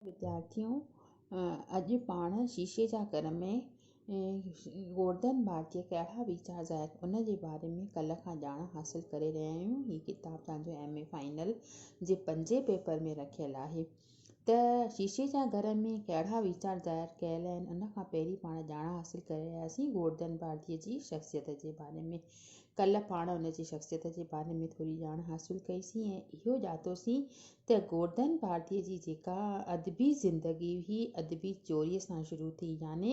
وديارٿيو اڄ پاڻ شيشي جا گهر ۾ گوردن بار جي ڪهڙا ويچار ظاهر ٿين ان جي باري ۾ ڪلهه کان ڄاڻ حاصل ڪري رهيا آهيون هي ڪتاب توهان جو ايم اي فائنل جي پنجين پيپر ۾ رکيل آهي ته شيشي جا گهر ۾ ڪهڙا ويچار ظاهر ڪيل آهن ان کان پهرين پاڻ ڄاڻ حاصل ڪري رهياسين گوردن بارجي جي شخصيت جي باري ۾ ڪلهه پاڻ ان جي شخصيت جي باري ۾ ٿوري ڄاڻ حاصل ڪئي سين ۽ اهو ڄاتو سين ته گوردن ڀارتيء جي جيڪا ادبي زندگي هئي، ادبي چوريء سان شروع ٿي. يعني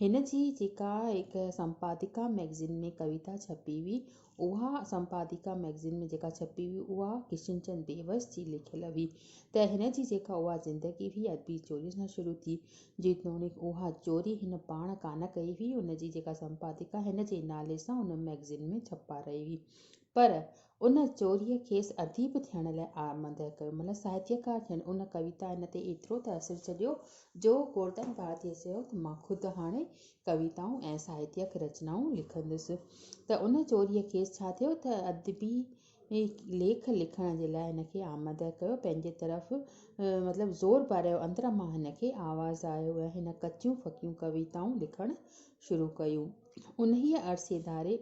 هن جي جيڪا هڪ سمپادڪا مئگزين ۾ ڪويتا ڇپي هئي، اها سمپادڪا مئگزين ۾ جيڪا ڇپي هئي، اها ڪشن چند بيوس جي لکيل هئي، ته هن جي جيڪا اها زندگي هئي، ادبي چوريء سان شروع ٿي. جيتوڻيڪ اها چوري هن پاڻ ڪانه ڪئي هئي، هن جي جيڪا سمپادڪا هن جي نالي سان ان مئگزين ۾ ڇپارائي هئي، پر ان چوريء کيس اديب ٿيڻ لاء آرمده ڪيو. مطلب ساهتيڪار ٿيڻ. ان ڪويتا هن تي ايترو ته اثر ڇڏيو جو گوردن ڀارتيء چيو ته مان خود هاڻي ڪويتائون ۽ ساهتيڪ رچنائون لکندس. ته ان چوريء کيس ڇا ٿيو ته ادبي ليک لکڻ جي لاء هن کي آمده ڪيو، پنهنجي طرف مطلب زور ڀرايو، اندر مان هن کي آواز آيو ۽ هن ڪچيون ڦڪيون ڪويتائون لکڻ شروع ڪيون. انهيء عرصي ڌاري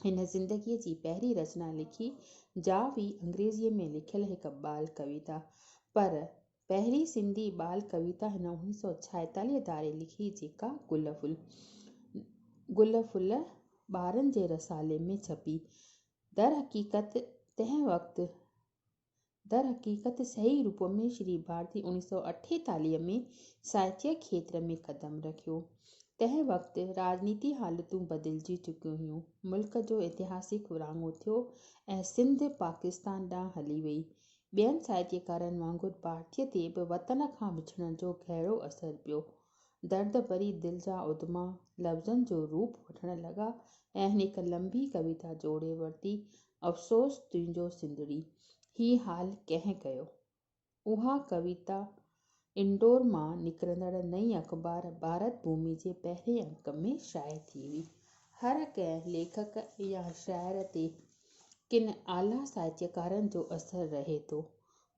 هن زندگيء جي پهرين رچنا لکي، جا هئي انگريزيء ۾ لکيل هڪ ٻال ڪويتا. پر پهرين سنڌي ٻال ڪويتا هن اڻويهه سؤ ڇاهيتاليهه ڌاري لکي جيڪا گل ڦل گل ڦل ٻارن جي رسالي ۾ ڇپي. درحقيقت تنهن وقت در حقيقت صحيح روپ ۾ شري ڀارتي اوڻيھ سؤ اٺيتاليھ ۾ ساھتيه کيتر ۾ قدم رکيو. تنهن وقت راڄنيتي حالتون بدلجي چڪيون هيون. ملڪ جو اتهاسڪ ورهاڱو ٿيو ۽ سنڌ پاڪستان ڏانهن هلي وئي. ٻين ساهتيڪارن وانگر ڀارتي تي به وطن کان وڇڙڻ جو گهرو اثر پيو. درد ڀري دل جا ادما لفظن جو روپ وٺڻ لڳا ۽ هن هڪ لنبي ڪويتا جوڙي ورتي افسوس تنهنجو سنڌڙي هي حال ڪنهن ڪيو. اها ڪويتا انڊور مان نڪرندڙ نئين اخبار ڀارت ڀومي جي پهرين انڪ ۾ شايع ٿي هئي. هر ڪنهن ليکڪ يا شاعر تي ڪن اعليٰ ساهتيڪارن جو اثر رهي ٿو.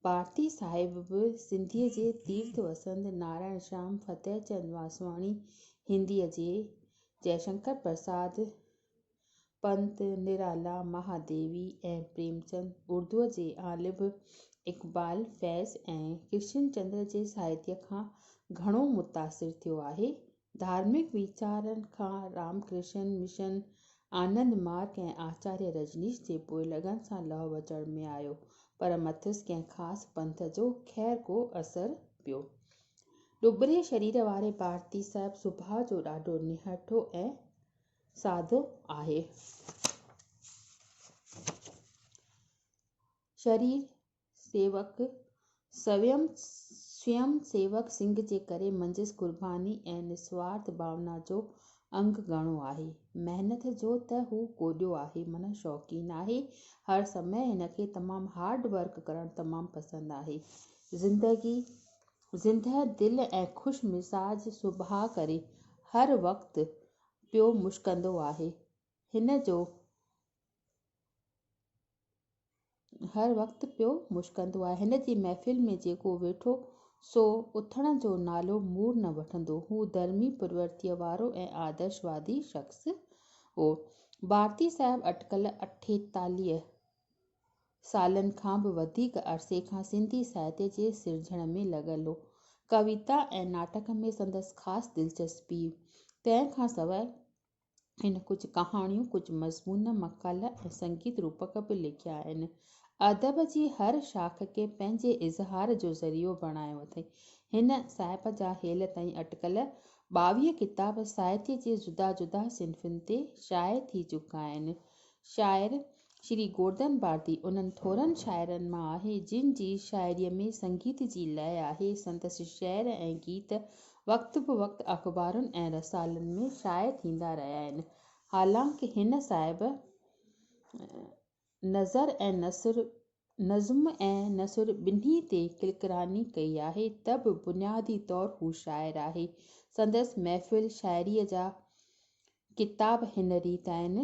پارٿي صاحب به سنڌيء جي تيرٿ وسند نارائڻ شيام، فتح چند واسواڻي، هنديء جي جئشنڪر پرساد، پنت، نرالا، مهاديوي ۽ پريمچند اردوء جي غالب اقبال، فيض ۽ ڪرشن چندر جي ساهتيه کان گهڻو متاثر ٿيو آهي. ڌارمڪ ويچارن کان رام ڪرشن مشن، آنند مارگ ۽ آچاريه رجنيش جي پوئلڳن سان لهه وچڙ ۾ آيو، پر مٿس ڪنهن خاص پنٿ جو خير ڪو اثر پيو. ڏٻري شرير واري ڀارتي صاحب سڀاء جو ڏاڍو نهٺو ۽ ساڌو آهي. شرير سيوڪ سويم سويم سيوڪ سنگهه جي ڪري منجهس قرباني ۽ نسوارٿ ڀاونا جو انگ گهڻو آهي. محنت جو ته هو ڪوڏيو آهي معنيٰ شوقين آهي. هر سمي هن کي تمام هارڊ ورڪ ڪرڻ تمام پسند آهي. زندگي زندهه دل ۽ خوش مزاج سڀاء ڪري هر وقت پيو مشڪندو آهي. هن جو هر وقت پيو مشڪندو آهي. هن جي محفل ۾ جيڪو ويٺو سو اٿڻ جو نالو مور نه وٺندو. هو ڌرمي، پرورتيء وارو ۽ آدرشوادي شخص هو. ڀارتي صاحب اٽڪل اٺيتاليهه سالن کان به وڌيڪ عرصي کان سنڌي ساهتيه جي سرجڻ ۾ لڳل هو. ڪويتا ۽ ناٽڪ ۾ سندس خاص دلچسپي هئي. تنهن کان سواء هن ڪجهه ڪهاڻيون، ڪجهه مضمون، مقالا ۽ سنگيت روپڪ به لکيا آهن. ادب جي هر شاخ کي پنهنجي اظهار جو ذريعو بڻايو اٿئي. هن صاحب جا هيل تائين اٽڪل ٻاويهه ڪتاب ساهتيه جي جدا جدا صنفن تي شايع ٿي چڪا آهن. شاعر شري گوردن بھارتي انھن ٿورن شاعرن مان آھي جن جي شاعريء ۾ سنگيت جي لئه آھي. سندس شعر ۽ گيت وقت به وقت اخبارن ۽ رسالن ۾ شايع ٿيندا رھيا آھن. حالانڪ ھن صاحب نظر ۽ نثر، نظم ۽ نثر ٻنھي تي ڪلڪراني ڪئي آھي ته به بنيادي طور ھو شاعر آھي. سندس محفل شاعريء جا ڪتاب ھن ريت آھن.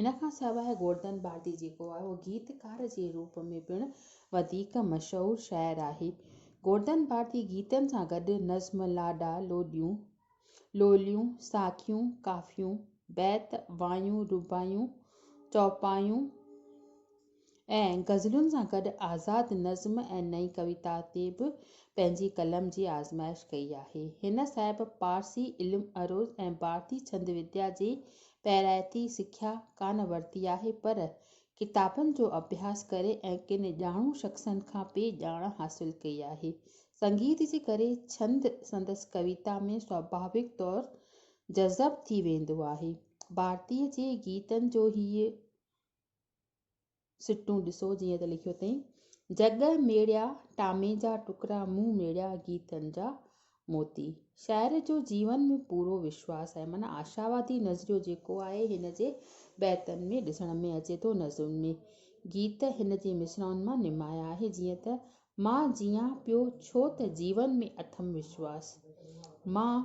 ان کان سواء گوردن باردي جيڪو آهي اهو گيتڪار جي روپ ۾ پڻ وڌيڪ مشهور شاعر آهي. گوردن باردي گيتن سان گڏ نظم، لاڏا، لوڏيون، لوليون، ساکيون، ڪافيون، بيت، وايون، رباعيون، چوپايون، ۽ غزلن سان گڏ آزاد نظم ۽ نئين ڪويتا تي به پنهنجي قلم جي آزمائش ڪئي آهي. هن صاحب پارسي علم عروض ۽ ڀارتي ڇند وديا جي پيرائتي سکيا ڪانه ورتي آهي پر ڪتابن جو اڀياس ڪري ۽ ڪن ڄاڻو شخصن کان پي ڄاڻ حاصل ڪئي آهي. سنگيت جي ڪري ڇند سندس ڪويتا ۾ سوڀاويڪ طور جذب ٿي ويندو آهي. ڀارتي جي گيتن جو هيء سٽون ڏسو جيئن ته لکيو اٿئين. جڳ ميڙيا ٽامي جا ٽڪرا مون ميڙيا گيتن جا موتي. شاعر جو جيون ۾ پورو وشواس آهي معنيٰ آشاوادي نظريو جيڪو آهي هن جي بيتن ۾ ڏسڻ ۾ اچي ٿو نظرن ۾ گيت هن جي مصرعن مان نمايان آهي جيئن ته مان جيئان پيو ڇو ته جيون ۾ اٿم وشواس مان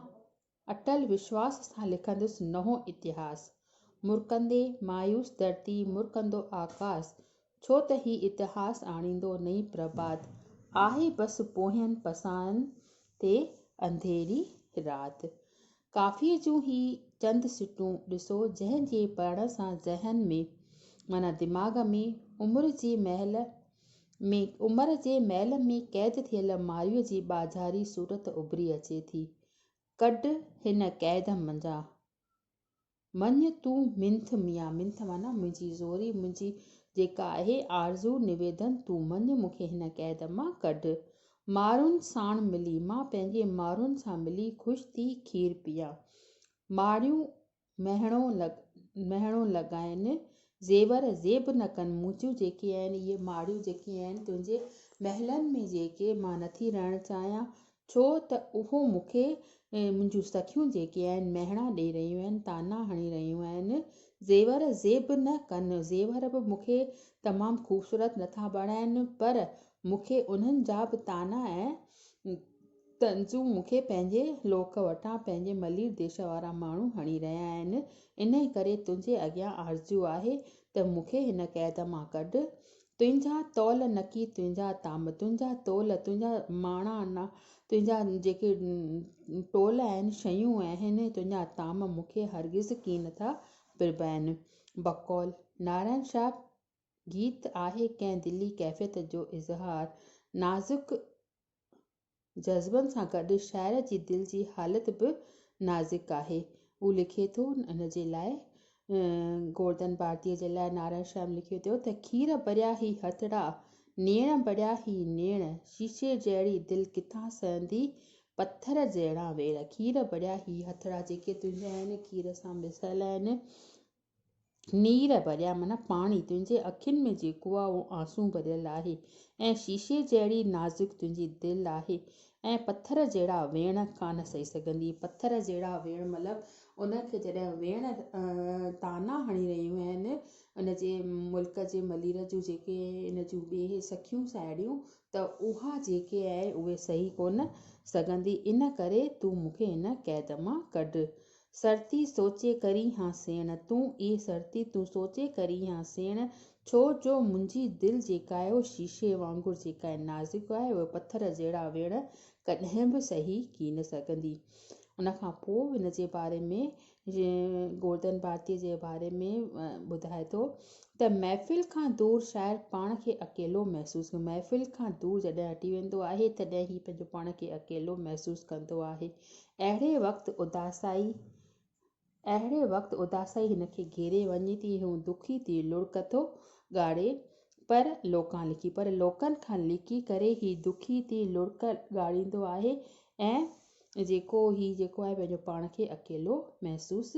اٽل وشواس سان لکندس نئون اتهاس. مرڪندي مايوس ڌرتي، مرڪندو آڪاس. ڇو ته هي اتهاس آڻيندو نئين پرڀات. آهي بس پوهين پساهن تي انڌيري رات. ڪافيء جون هي چند سٽون ڏسو جنهن جي پڙهڻ سان ذهن ۾، معنيٰ دماغ ۾، عمر جي محل ۾ عمر جي محل ۾ قيد ٿيل مارئيء جي ٻاجهاري صورت اڀري اچي ٿي. ڪڍ هن قيد منجهان مڃ تون منٿ ميان منٿ معنيٰ منهنجي زوري منهنجي جيڪا آهي آرزو نويدن تون مڃ مون کي هن قيد مان ڪڍ مارون ساڻ ملي مان پنهنجي مارون سان ملي خوش ٿي کير پيان ماريون مهڻو لڳ مهڻو لڳائين، زيور زيب نه ڪن، منهنجون جيڪي آهن اهي ماڙيون جيڪي آهن تنهنجي محلن ۾ جيڪي، مان نٿي رهڻ چاهيان، ڇو ته اهو مون کي منهنجون سکيون جيڪي آهن مهڻا ڏئي رهيون آهن، طعنا هڻي رهيون آهن، زيور زيب نه ڪن، زيور به مون کي تمام خوبصورت نٿا بڻائين، پر مون کي انهن جا به طعنا ۽. تنهنجون مون کي پنهنجي لوڪ وٽان پنهنجي ملير ديش وارا ماڻهو هڻي رهيا آهن، انهي ڪري تنهنجي اڳيان آرزو آهي ته مون کي هن قيد مان ڪڍ. تنهنجا تول نڪي تنهنجا تام، تنهنجا تول، تنهنجا ماڻا، تنهنجا جيڪي ٽول آهن، شيون آهن، تنهنجا تام مون کي هرگز ڪين ٿا پرڀائين. بقول نارائڻ شاهه گيت آهي ڪنهن دلي ڪيفيت جو اظهار، نازڪ جذبن سان گڏ شاعر جي دل جي حالت به نازڪ آهي. هو لکي ٿو ان جي لاء گوردن ڀارتيء جي لاء نارائڻ شيام لکيو ٿو ته کير ڀريا هي هٿڙا، نيڻ ڀريا هي نيڻ، شيشي جهڙي دل ڪٿان سهندي، پٿر جهڙا ويڙ، کير ڀريا هي هٿڙا جيڪي تنهنجا آهن، کير سان مصحل آهن، نير ڀريا معنيٰ پاڻي، تنهنجي اکين ۾ جيڪو آ اهو آنسون ڀريل آهي ۽ شيشي جهڙي نازڪ تنهنجي دل آهي ۽ پٿر جهڙا ويڻ ڪانه سهي سگهندي، پٿر جهڙا ويڻ مطلب ان کي جڏهن ويڻ طعنا هڻي رهيون آهن ان جي ملڪ جي ملير جون جيڪي ان جون ٻي سکيون ساهيڙيون ته اها جيڪي آهي اهي سهي ڪونه سگهندي ان ڪري تون مون کي هن قيد مان ڪڍ سرتي سوچي ڪرين ها سيڻ. تون اي سرتي تون سوچي ڪرين ها سيڻ، ڇو جو منهنجي دل جيڪا آهي اهو شيشي وانگر جيڪا آهي نازڪ آهي اهي پٿر جهڙا ويڻ ڪڏهن به سهي ڪين سگهندي. ان کان پوء ان جي باري ۾ گوردن ڀارتي جي باري ۾ ٻڌائي ٿو ته محفل کان دور شاعر پاڻ کي اڪيلو محسوس ڪندو محفل کان دور جڏهن هٽي ويندو آهي تڏهن هي پنهنجو پاڻ کي اڪيلو محسوس ڪندو آهي اهڙي وقت اداسائي اهڙي وقت اداسائي هن کي گهيري وڃي ٿي، هو دکي ٿي لڙڪ ٿو ڳاڙي، پر لوڪان لڪي، پر لوڪن کان لڪي ڪري هي دکي ٿي لڙڪ ڳاڙيندو آهي ۽ جيڪو هي جيڪو آهي پنهنجو پاڻ کي اڪيلو محسوس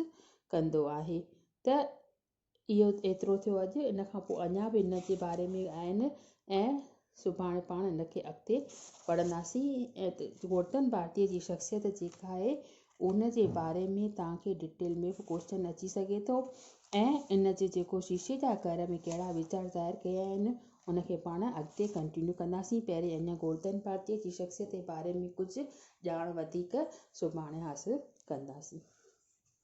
ڪندو آهي ته اهو ايترو ٿيو اڄ، ان کان پوء اڃا به ان جي باري ۾ آهن ۽ سڀاڻي پاڻ ان کي اڳتي پڙهنداسين ۽ گورڌن ڀارتيء جي شخصيت جيڪا آهي ان جي باري ۾ توهان کي ڊٽيل ۾ به ڪوئسچن اچي سگهي ٿو ۽ ان جي جيڪو شيشي جا گهر ۾ ڪهڙا ويچار ظاهر ڪيا آهن ان کي پاڻ اڳتي ڪنٽينيو ڪنداسين پهرين اڃا گورڌن ڀارتيء جي شخصيت جي باري ۾ ڪجهه ڄاڻ وڌيڪ سڀاڻي حاصل ڪنداسين.